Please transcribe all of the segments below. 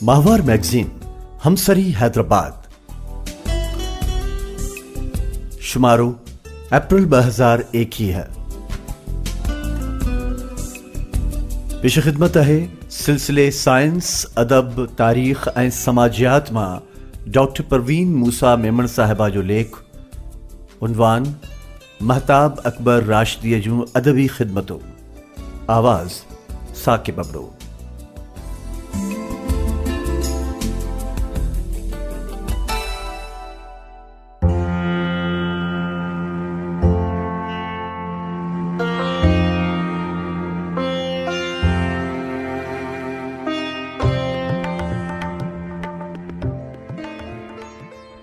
ماهوار مئگزين همسري حيدرآباد شمارو اپريل ٻه هزار ايڪيهه پيش خدمت آهي سلسلي سائنس ادب تاريخ ۽ سماجيات مان ڊاڪٽر پروين موسيٰ ميمڻ صاحبه جو ليک عنوان مهتاب اڪبر راشديء جون ادبي خدمتون، آواز، ثاقب ابڙو.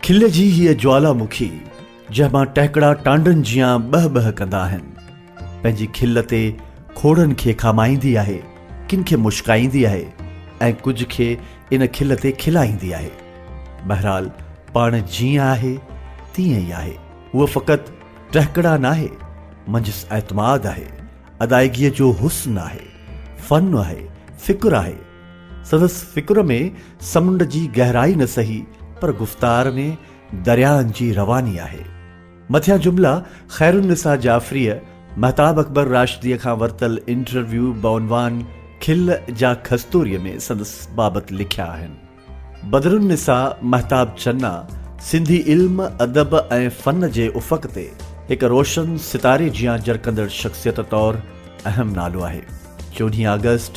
کل جي هيء جوالا مکي جنهن مان ٽهڪڙا ٽانڊن جيان ٻهه ٻهه ڪندا آهن. پنهنجي کل تي کوڙن کي کامائيندي آهي، ڪن کي مشڪائيندي آهي ۽ ڪجهه کي ان کل تي کلائيندي آهي. بهرحال پاڻ جيئن آهي تيئن ئي آهي. هوء فقط ٽهڪڙا ناهي، منجهس اعتماد آهي، ادائيگيء جو حسن آهي، فن آهي، فڪر آهي. سندس فڪر ۾ سمنڊ جي گهرائي نه سهي پر گفتار ۾. درياهن جي رواني آهي. مٿيان جملا خيرالنساء جعفريء مهتاب اڪبر راشديء کان ورتل انٽرويو بعنوان کل جا کستوريء ۾ سندس بابت لکيا آهن. بدرالنساء مهتاب چنا سنڌي علم، ادب ۽ فن جي افق تي هڪ روشن ستاري جيان جرڪندڙ شخصيت طور اهم نالو آهي. چوڏهين آگسٽ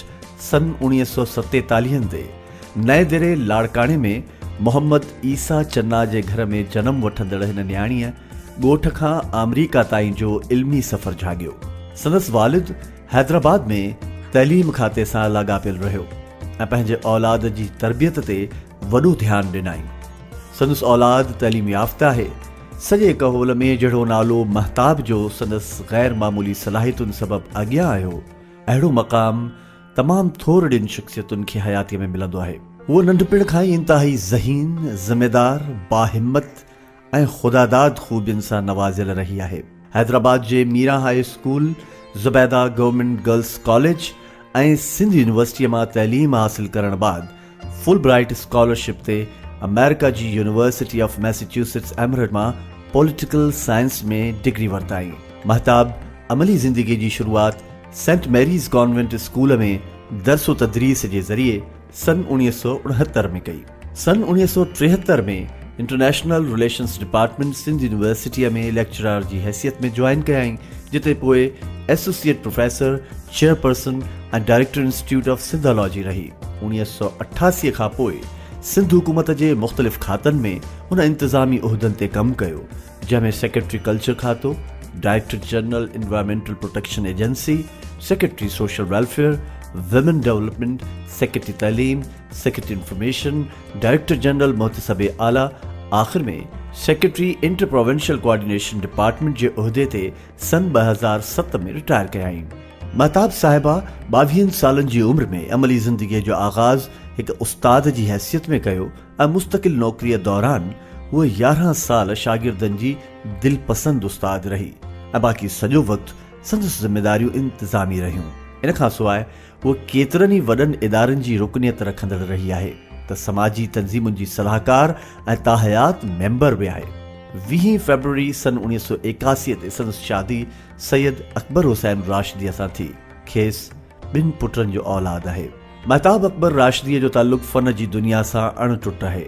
سن اوڻيهه سؤ ستيتاليهن تي نئين دري لاڙڪاڻي ۾ محمد عيسيٰ چنا جي گهر ۾ جنم وٺندڙ هن نياڻيء ڳوٺ کان آمريڪا تائين جو علمي سفر جهاڳيو. سندس والد حيدرآباد ۾ تعليم کاتي سان لاڳاپيل رهيو ۽ پنهنجي اولاد جي تربيت تي وڏو ڌيان ڏنائين. سندس اولاد تعليم يافته آهي. سڄي ڪهول ۾ جهڙو نالو مهتاب جو سندس غير معمولي صلاحيتن سبب اڳيان آيو، اهڙو مقام تمام ٿورڙين شخصيتن کي حياتيء ۾ ملندو آهي. هو ننڍپڻ کان ئي انتهائي ذهين، ذميدار، باهمت ۽ خداداد خوبين سان نوازيل رهي آهي. حيدرآباد جي Miran high school, Zubaida government girls college ۽ Sindh يونيورسٽيء مان تعليم حاصل ڪرڻ بعد فل برائيٽ اسڪالرشپ تي آمريڪا جي يونيورسٽي آف ميسيچوسٽس ايمرٽ مان پوليٽيڪل سائنس ۾ ڊگري ورتائين. مهتاب عملي زندگي جي شروعات سينٽ ميريز ڪانوينٽ اسڪول ۾ درس و تدريس جي ذريعي سن اڻويهه سؤ اڻهتر ۾ ڪئي. سن اڻويهه سؤ ٽيهتر ۾ انٽرنيشنل رليشنز ڊپارٽمينٽ سنڌ يونيورسٽيء ۾ ليڪچرار جي حيثيت ۾ جوائن ڪيائين، جتي پوء associate professor, chairperson ۽ director institute of Sindhology رهي. اڻويهه سؤ اٺاسي کان پوء سنڌ حڪومت جي مختلف کاتن ۾ هن انتظامي عهدن تي ڪم ڪيو، جنهن ۾ سيڪريٽري ڪلچر کاتو، director general environmental protection agency, secretary social welfare, women development, secretary تعليم، سيڪريٽري انفارميشن، ڊائريڪٽر جنرل محتسب اعليٰ آخر ۾ secretary inter provincial coordination department جي عهدي تي سن ٻه هزار ست ۾ رٽائر ڪيائين. مهتاب صاحبه ٻاويهن سالن جي عمر ۾ عملي زندگيء جو آغاز هڪ استاد جي حيثيت ۾ ڪيو ۽ مستقل نوڪريء دوران هوء يارهن سال شاگردن جي دلپسند استاد رهي ۽ باقي سڄو وقت سندس ذميداريون انتظامي رهيون. ان کانسواء هوء ڪيترن ئي وڏن ادارن جي رڪنيت رکندڙ رهي آهي ته سماجي تنظيمن جي صلاحڪار ۽ تاحيات ميمبر به آهي. ويهين فيبروري سن اڻيهه سؤ ايڪاسي تي سندس شادي سيد اڪبر حسين راشديء سان ٿي. کيس ٻن پٽن جو اولاد آهي. مهتاب اڪبر راشديء جو تعلق فن جي دنيا سان اڻ ٽٽ آهي.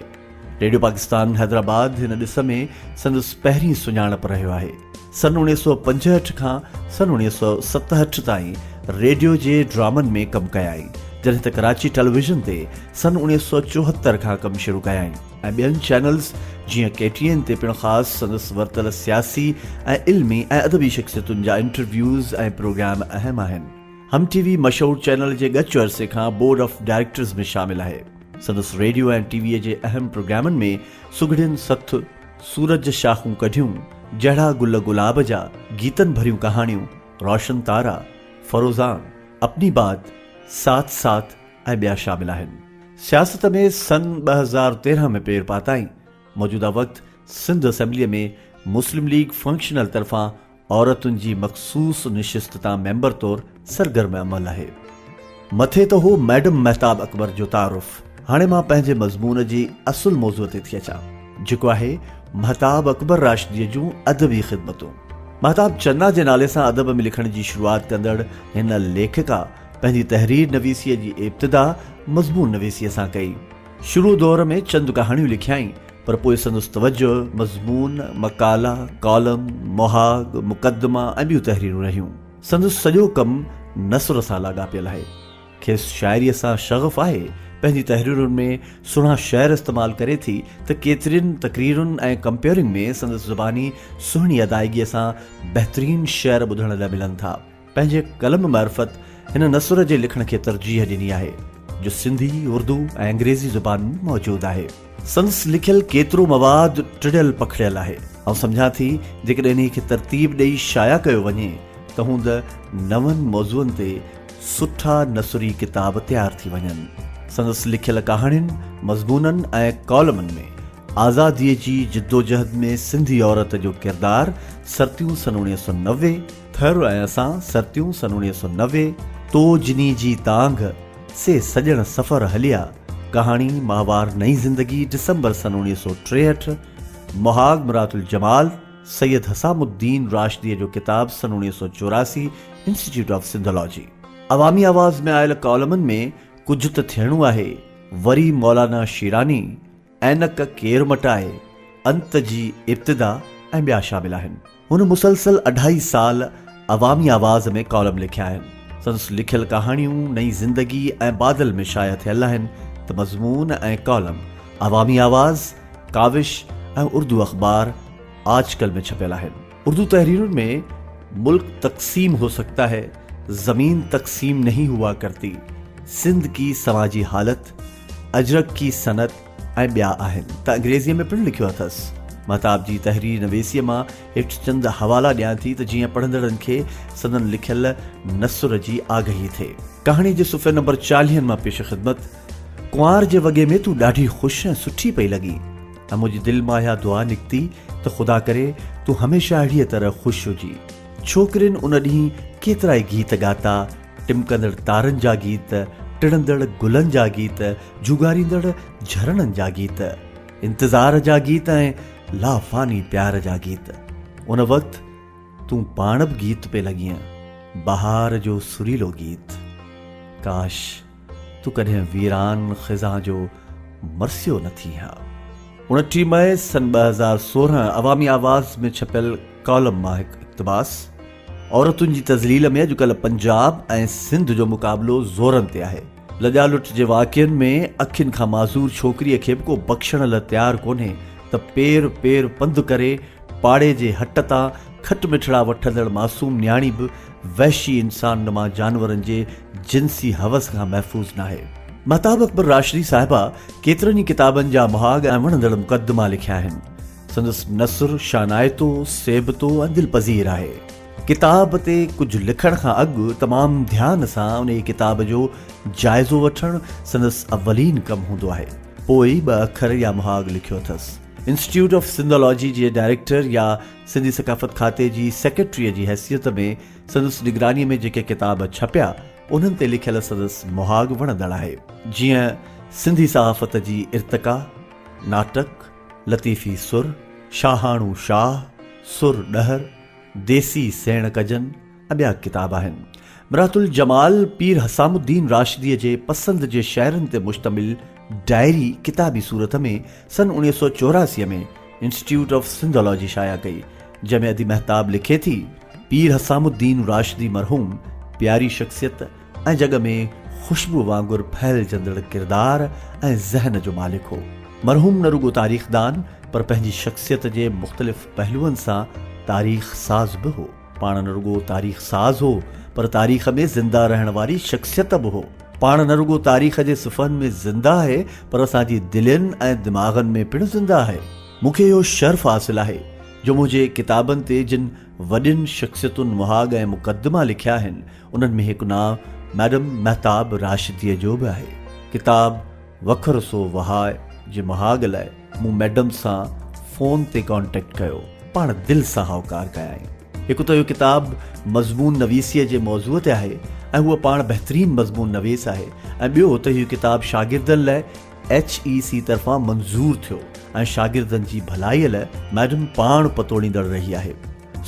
ريڊيو پاڪستان حيدرآباد هن ڏس ۾ سندس پهرين سڃاڻپ رهيو آهي. سن اوڻيهه سؤ پنجهٺ کان سن اوڻيهه سؤ ستهٺ تائين ريڊيو جي ڊرامن ۾ ڪم ڪيائين، جڏهن ته ڪراچي ٽيليويزن تي سن اوڻيهه سؤ چوهتر کان ڪم شروع ڪيائين ۽ ٻين چينلز جيئن ڪي ٽي اين تي پڻ خاص سندس ورتل سياسي ۽ علمي ۽ ادبي شخصيتن جا انٽرويوز ۽ پروگرام اهم آهن. هم ٽي وي مشهور چينل جي ڳچ عرصي کان بورڊ آف ڊائريڪٽرز ۾ شامل آهي. سندس ريڊيو ۽ ٽي ويء جي اهم پروگرامن ۾ سگهڙين سٿ، سورج شاخون ڪڍيون، جهڙا گل گلاب جا، گيتن ڀريون ڪهاڻيون، روشن تارا، فروزان، اپني بات، ساٿ ساٿ ۽ ٻيا شامل آهن. سياست ۾ سن ٻه هزار تيرهن ۾ پير پاتائين. موجوده وقت سنڌ اسيمبليء ۾ مسلم ليگ فنڪشنل طرفان عورتن جي مخصوص نشست تان ميمبر طور سرگرم عمل آهي. مٿي ته هو ميڊم مهتاب اڪبر جو تعارف، هاڻي مان پنهنجي مضمون جي اصل موضوع تي ٿي اچان، جيڪو آهي مهتاب اڪبر راشديء جون ادبي خدمتون. مهتاب چنا جي نالي سان ادب ۾ لکڻ جي شروعات ڪندڙ هن ليکڪا پنهنجي تحرير نويسيء جي ابتدا مضمون نويسيء سان ڪئي. شروع دور ۾ چند ڪهاڻيون لکيائين، پر پوء سندس توجه مضمون، مقالا، ڪالم، مهاڳ، مقدما ۽ ٻيون تحريرون رهيون. سندس سڄو ڪم نثر سان لاڳاپيل آهي. کيس شاعريء سان شغف آهي. پنهنجي تحريرن ۾ سهڻا شعر استعمال ڪري ٿي ته ڪيترين تقريرن ۽ ڪمپيئرنگ ۾ سندس زباني سهڻي ادائيگيء سان بهترين شعر ٻڌڻ لاء ملن ٿا. پنهنجي قلم معرفت هن نثر جي لکڻ کي ترجيح ڏني آهي، جو سنڌي، اردو ۽ انگريزي زبان ۾ موجود آهي. سندس لکيل ڪيترو مواد ٽڙيل پکڙيل آهي. آئون سمجهان ٿي، جيڪڏهن انهيء کي ترتيب ڏيئي شايع ڪيو وڃي، ته هوند نون موضوعن تي سٺا نثري ڪتاب تيار ٿي وڃن. سندس لکيل ڪهاڻين، مضمونن ۽ ڪالمن ۾ آزاديء جي جدوجهد ۾ سنڌي عورت جو ڪردار، سرتيون سن اوڻيهه سؤ نوي، ٿر ۽ اسان سرتيون سن اڻيهه سؤ نوي تو جني جي تانگهه سي سڄڻ سفر هليا ڪهاڻي ماهوار نئين زندگي ڊسمبر سن اڻيهه سؤ ٽيهٺ مهاڳ مرات الجمال سيد حسام الدين راشديء جو ڪتاب سن اڻيهه سؤ چوراسي انسٽيٽيوٽ آف سنڌالاجي عوامي آواز ۾ آيل ڪالمن ۾ ڪجهه ته ٿيڻو آهي وري مولانا شيراني عينڪ ڪير مٽائي، انت جي ابتدا ۽ ٻيا شامل آهن. هن مسلسل اڍائي سال عوامي آواز ۾ ڪالم لکيا آهن. سندس لکيل ڪهاڻيون نئين زندگي ۽ بادل ۾ شايع ٿيل آهن ته مضمون ۽ ڪالم عوامي آواز، ڪاوش ۽ اردو اخبار آج ڪل ۾ ڇپيل آهن. اردو تحريرن ۾ ملڪ تقسيم هو سگتا هي، زمين تقسيم نهين هوا ڪرتي، سنڌ ڪي سماجي حالت، اجرڪ ڪي صنعت ۽ ٻيا آهن ته انگريزيء ۾ پڻ لکيو اٿس. مهتاب جي تحرير نويسيء مان هيٺ چند حوالا ڏيان ٿي ته جيئن پڙهندڙن کي سندن لکيل نثر جي آگهي ٿئي. ڪهاڻيء جي صفحي نمبر چاليهن مان پيش خدمت، ڪنوار جي وڳي ۾ تون ڏاڍي خوش ۽ سٺي پئي لڳين. ۽ منهنجي دل مان اها دعا نڪتي ته خدا ڪري تون هميشه اهڙيء طرح خوش هجي. ڇوڪرين ان ڏينهن ڪيترائي گيت ڳاتا، ٽمڪندڙ تارن جا گيت، ٽڙندڙ گلن جا گيت، جهوڳاريندڙ جهرڻن جا گيت، انتظار جا گيت ۽ لافاني پيار جا گيت. ان وقت تون پاڻ به گيت پئي لڳين، بهار جو سريلو گيت. ڪاش! تون ڪڏهن ويران خزان جو مرثيو نه ٿين ها. اڻٽيهه مئي سن ٻه هزار سورهن عوامي آواز ۾ ڇپيل ڪالم مان هڪ اقتباس، عورتن جي تذليل ۾ اڄڪلهه پنجاب ۽ سنڌ جو مقابلو زورن تي آهي. لڄا لٽ جي واقعن ۾ اکين کان معذور ڇوڪريء کي به ڪو بخشڻ لا تيار ڪونهي ته پير پير پنڌ ڪري پاڙي جي هٽ تان کٽ مٺڙا وٺندڙ معصوم نياڻي به وحشي انسان نما جانورن جي جنسي حوس کان محفوظ ناهي. مهتاب اڪبر راشدي صاحبه ڪيترن ئي ڪتابن جا مهاڳ ۽ وڻندڙ مقدما لکيا آهن. سندس نثر شانائتو، سيبتو ۽ دلپذير آهي. ڪتاب تي ڪجهه لکڻ کان اڳ تمام ڌيان سان انهيء ڪتاب جو جائزو وٺڻ سندس اولين ڪم هوندو آهي. پوء ئي ٻه اکر يا مهاڳ لکيو اٿس. انسٽيٽيوٽ آف سنڌالاجي جي ڊائريڪٽر يا سنڌي ثقافت کاتي جي سيڪريٽريء جي حيثيت ۾ سندس نگرانيء ۾ جيڪي ڪتاب ڇپيا، انهن تي لکيل سندس مهاڳ وڻندڙ آهي. جيئن سنڌي صحافت جي ارتقا، ناٽڪ، لطيفي سر، شاهاڻو شاهه، سر ڏهر، ديسي سيڻ ڪجن، ٻيا ڪتاب آهن، مرات الجمال پير حسام الدين راشديء جي پسند جي شعرن تي مشتمل ڊائري ڪتابي صورت ۾ سن اوڻيهه سؤ چوراسي ۾ انسٽيٽيوٽ آف سنڌالاجي شايع ڪئي، جنهن ۾ ادي مهتاب لکي ٿي، پير حسام الدين راشدي مرحوم پياري شخصيت ۽ جڳ ۾ خوشبوء وانگر ڦهلجندڙ ڪردار ۽ ذهن جو مالڪ هو. مرحوم نه رڳو تاريخدان پر پنهنجي شخصيت جي مختلف پهلوئن سان تاريخ ساز به هو. پاڻ نه رڳو تاريخ ساز هو پر تاريخ ۾ زنده رهڻ واري شخصيت به هو. پاڻ نه رڳو تاريخ جي صفحن ۾ زنده آهي پر اسان جي دلين ۽ دماغن ۾ پڻ زنده آهي. مون کي اهو شرف حاصل آهي جو منهنجي ڪتابن تي جن وڏين شخصيتن مهاڳ ۽ مقدما لکيا آهن انهن ۾ هڪ نانء ميڊم مهتاب راشديء جو به آهي. ڪتاب وکر سو وهاء جي مهاڳ لاء مون ميڊم سان فون تي ڪانٽيڪٽ ڪيو. پاڻ دل سان هائوڪار ڪيائين. هڪ ته اهو ڪتاب مضمون نويسيء جي موضوع تي آهي ۽ هوء پاڻ بهترين مضمون نويس آهي ۽ ٻيو ته اهو ڪتاب شاگردن لئه ايڇ اي سي طرفان منظور ٿيو ۽ شاگردن جي ڀلائيء لئه ميڊم پاڻ پتوڙيندڙ رهي آهي.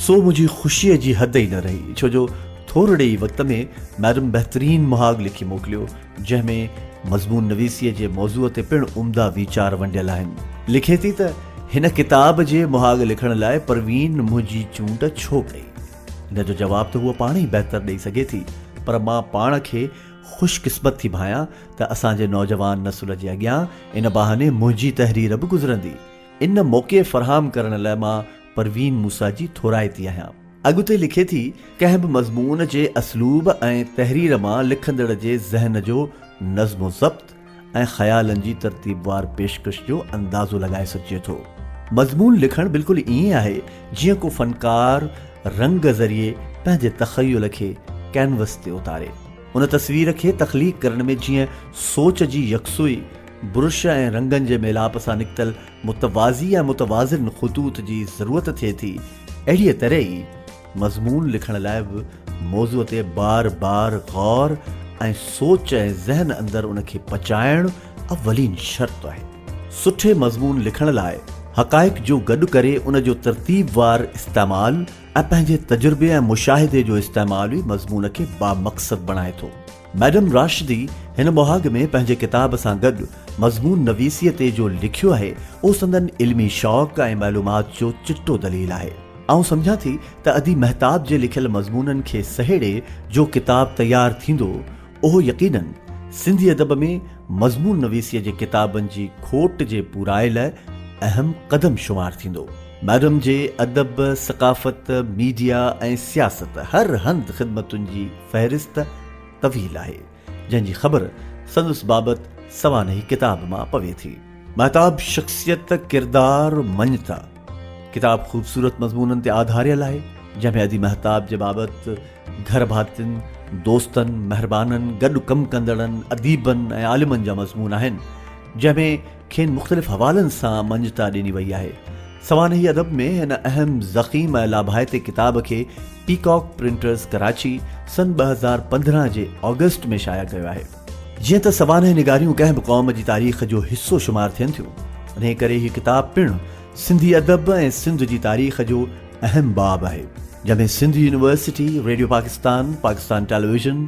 سو منهنجي خوشيء جي حد ئي نه رهي، ڇو جو ٿورڙي ئي وقت ۾ ميڊم بهترين مهاڳ لکي موڪليو، جنهن ۾ مضمون نويسيء جي موضوع تي پڻ عمدا ويچار ونڊيل آهن. لکي ٿي ته هن ڪتاب جي مهاڳ لکڻ لاء پروين منهنجي چونڊ ڇو ڪئي؟ ان جو جواب ته هوء پاڻ ئي بهتر ڏئي سگهي ٿي، پر مان پاڻ کي خوش قسمت ٿي ڀانيان ته اسان جي نوجوان نسل جي اڳيان ان بهاني منهنجي تحرير به گذرندي. ان موقعي فراهم ڪرڻ لاء مان پروين موسيٰ جي ٿورائتي آهيان. اڳتي لکي ٿي، ڪنهن به مضمون جي اسلوب ۽ تحرير مان لکندڙ جي ذهن جو نظم و ضبط ۽ خيالن جي ترتيبوار پيشڪش جو اندازو لڳائي سگهجي ٿو. مضمون لکڻ بلڪل ائين آهي جيئن ڪو فنڪار رنگ ذريعي پنهنجي تخيل کي ڪينوس تي اتاري. هن تصوير کي تخليق ڪرڻ ۾ جيئن سوچ جي يڪسوئي، برش ۽ رنگن جي ميلاپ سان نڪتل متوازي ۽ متوازن خطوط جي ضرورت ٿئي ٿي، اهڙيء طرح ئي مضمون لکڻ لاء به موضوع تي بار بار غور ۽ سوچ ۽ ذهن اندر ان کي پچائڻ اولين شرط آهي. سٺي مضمون لکڻ لاء حقائق جو گڏ ڪري ان جو ترتيب وار استعمال، ۽ پنهنجي تجربي ۽ مشاهدي جو استعمال ئي مضمون کي بامقصد بڻائي ٿو. ميڊم راشدي هن مهاڳ ۾ پنهنجي ڪتاب سان گڏ مضمون نويسيء تي جو لکيو آهي، اهو سندن علمي شوق ۽ معلومات جو چٽو دليل آهي. آئون سمجهان ٿي ته ادي مهتاب جي لکيل مضمونن کي سهيڙي جو ڪتاب تيار ٿيندو، اهو يقيناً سنڌي ادب ۾ مضمون نويسيء جي ڪتابن جي کوٽ جي پورائي لاء اهم قدم شمار ٿيندو. ميڊم جي ادب، ثقافت، ميڊيا ۽ سياست هر هنڌ خدمتن جي فهرست طويل آهي، جنهن جي خبر سندس بابت سوانحي ڪتاب مان پوي ٿي. مهتاب شخصيت، ڪردار، مڃتا ڪتاب خوبصورت مضمونن تي آڌاريل آهي، جنهن ۾ ادي مهتاب جي بابت، گهر ڀاتين، دوستن، مهربانن، گڏ ڪم ڪندڙن، اديبن ۽ عالمن جا مضمون آهن، جنهن ۾ کين مختلف حوالن سان مڃتا ڏني وئي آهي. سوانحي ادب ۾ هن اهم، ضخيم ۽ لاڀائتي ڪتاب کي پيڪاڪ پرنٽرز ڪراچي سن ٻه هزار پندرهن جي آگسٽ ۾ شايع ڪيو آهي. جيئن ته سوانح نگاريون ڪنهن به قوم جي تاريخ جو حصو شمار ٿين ٿيون، انهيء ڪري هي ڪتاب پڻ سنڌي ادب ۽ سنڌ جي تاريخ جو اهم باب آهي جنهن ۾ Sindh university, radio Pakistan, Pakistan television,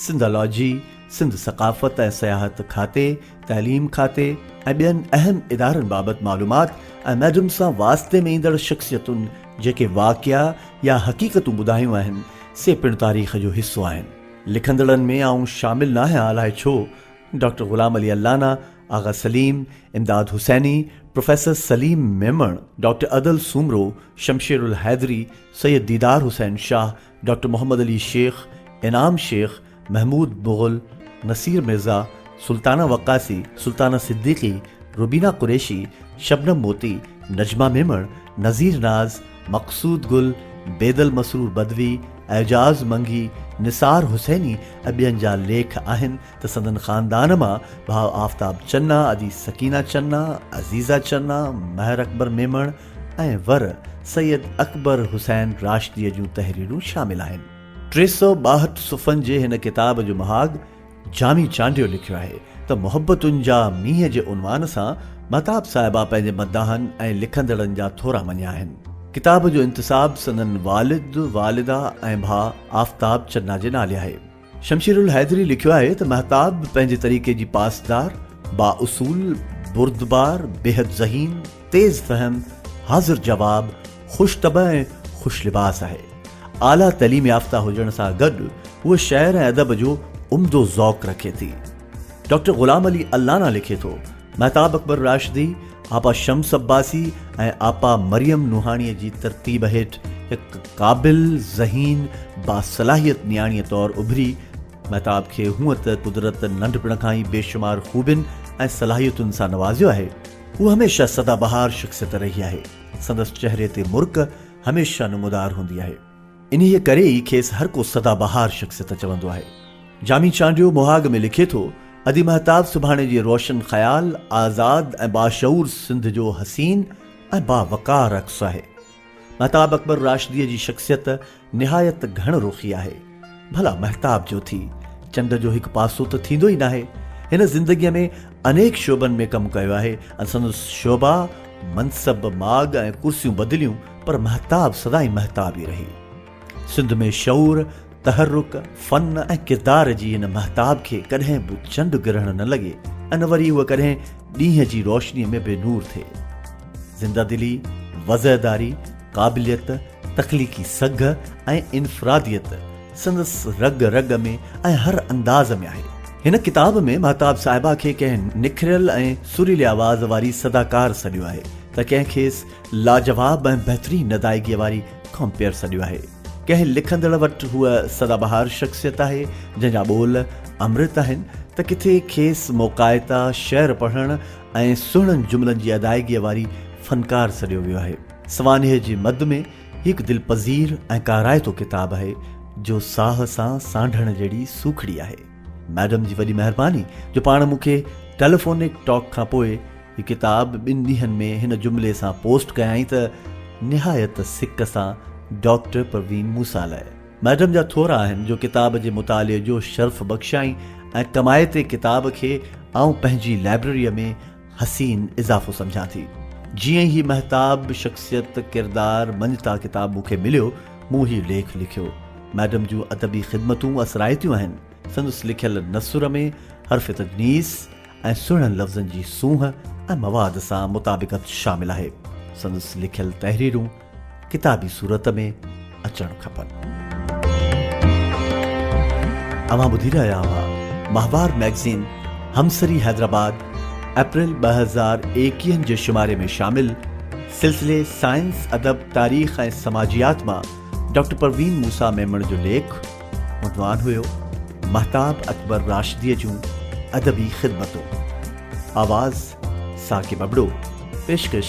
Sindhology, Sindh ثقافت ۽ سياحت کاتي، تعليم کاتي ۽ ٻين اهم ادارن بابت معلومات ۽ ميڊم سان واسطي ۾ ايندڙ شخصيتن جيڪي واقعا يا حقيقتون ٻڌايون آهن سي پڻ تاريخ جو حصو آهن. لکندڙن ۾ آئون شامل ناهيان الاهي ڇو doctor Ghulam Ali Allana, Agha Saleem, Imdad Hussaini, professor Saleem Memon, doctor Adal Soomro, Shamsher Al-Haidri, Syed Didar Hussain Shah, doctor Muhammad Ali Shaikh, Inam Shaikh, Mahmood Mughal, Naseer Mirza, Sultana Waqasi, Sultana Siddiqui, Rubina Qureshi, شبنم موتي، نجمه ميمڻ، نذير ناز، مقصود گل، بيدل مسرور بدوي، اعجاز منگي، نثار حسيني ۽ ٻين جا ليک آهن، ته سندن خاندان مان ڀاء آفتاب چنا، ادي سڪينه چنا، عزيزه چنا، مهر اڪبر ميمڻ ۽ ور سيد اڪبر حسين راشديء جون تحريرون شامل آهن. ٽي سؤ ٻاهٺ صفحن جي هن ڪتاب جو مهاڳ جامي چانڊيو لکيو آهي ته محبتن جا مينهن جي عنوان سان مهتاب صاحبه پنهنجي مداحن ۽ لکندڙن جا ٿورا مڃيا آهن. ڪتاب جو انتساب سندن والد، والده ۽ ڀاء آفتاب چنا جي نالي آهي. شمشير الحيدري لکيو آهي ته مهتاب پنهنجي طريقي جي پاسدار، بااصول، بردبار، بيحد ذهين، تيز فهم، حاضر جواب، خوش طبع ۽ خوش لباس آهي. اعليٰ تعليم يافته هجڻ سان گڏ هوء شعر ۽ ادب جو عمدو ذوق رکي ٿي. ڊاڪٽر غلام علي الانا لکي ٿو. مهتاب اڪبر راشدي، آپا شمس عباسي ۽ آپا مريم نوحاڻيء جي ترتيب هيٺ هڪ قابل، ذهين، باصلاحيت نياڻيء طور اڀري، مهتاب کي هونء ته قدرت ننڍپڻ کان ئي بيشمار خوبين ۽ صلاحيتن سان نوازيو آهي. هوء هميشه سدا بهار شخصيت رهي آهي. سندس چهري تي مرڪ هميشه نمودار هوندي آهي. انهيء ڪري ئي کيس هر ڪو سدا بهار شخصيت چوندو آهي. جامي چانڊيو مهاڳ ۾ لکي ٿو، ادي مهتاب سڀاڻي جي روشن خيال، آزاد ۽ باشعور سنڌ جو حسين ۽ باوقار عڪس آهي. مهتاب اڪبر راشديء جي شخصيت نهايت گهڻ رخي آهي. ڀلا مهتاب جو ٿي چنڊ جو هڪ پاسو ته ٿيندو ئي ناهي. هن زندگيء ۾ انيڪ شعبن ۾ ڪم ڪيو آهي ۽ سندس شعبا، منصب، ماڳ ۽ ڪرسيون بدليون پر مهتاب سدائين مهتاب ئي رهي. سنڌ ۾ شعور، تحرڪ، فن ۽ ڪردار جي هن مهتاب کي ڪڏهن به چنڊ گرهڻ نه لڳي ۽ نه وري هوء ڪڏهن ڏينهن جي روشنيء ۾ بي نور ٿئي. زنده دلي، وضعداري، قابليت، تخليقي سگهه ۽ انفراديت سندس رڳ رڳ ۾ ۽ هر انداز ۾ آهي. هن ڪتاب ۾ مهتاب صاحبه کي ڪنهن نکريل ۽ سريلي آواز واري صداڪار سڏيو آهي ته ڪنهن کيس لاجواب ۽ بهترين ادائگيء واري ڪامپيئر سڏيو آهي. ڪنهن لکندڙ وٽ هوء سدا بهار شخصيت آهي، جنهن جا ٻول امرت آهن ته ڪٿي کيس موقعائتا شعر پڙهڻ ۽ سهڻن جملن جي ادائگيء واري فنڪار سڏيو ويو آهي. سوانح جي مد ۾ هي هڪ دلپذير ۽ ڪارائتو ڪتاب آهي، جو ساهه سان سانڍڻ جهڙي سوکڙي آهي. ميڊم جي وڏي مهرباني جو پاڻ مون کي ٽيليفونڪ ٽاڪ کان پوء هي ڪتاب ٻن ڏينهن ۾ هن جملي سان پوسٽ ڪيائين ته نهايت سڪ سان ڊاڪٽر پروين موسيٰ لئه ميڊم جا ٿورا آهن جو ڪتاب جي مطالعي جو شرف بخشيائين ۽ ڪمائتي ڪتاب کي آئون پنهنجي لائبرريء ۾ حسين اضافو سمجهان ٿي. جيئن هي مهتاب، شخصيت، ڪردار، مڃتا ڪتاب مون کي مليو، مون هي ليک لکيو. ميڊم جون ادبي خدمتون اثرائتيون آهن. سندس لکيل نثر ۾ حرف تجنيس ۽ سهڻن لفظن جي سونهن ۽ مواد سان مطابقت شامل آهي. سندس لکيل تحريرون ڪتابي صورت ۾ اچڻ کپن. اوهان ٻڌي رهيا هئا ماهوار مئگزين همسري حيدرآباد اپريل ٻه هزار ايڪيهن جي شماري ۾ شامل سلسلي سائنس، ادب، تاريخ ۽ سماجيات مان ڊاڪٽر پروين موسيٰ ميمڻ جو ليک، عنوان هيو مهتاب اڪبر راشديء جون ادبي خدمتون. آواز، ثاقب ابڙو. پيشڪش،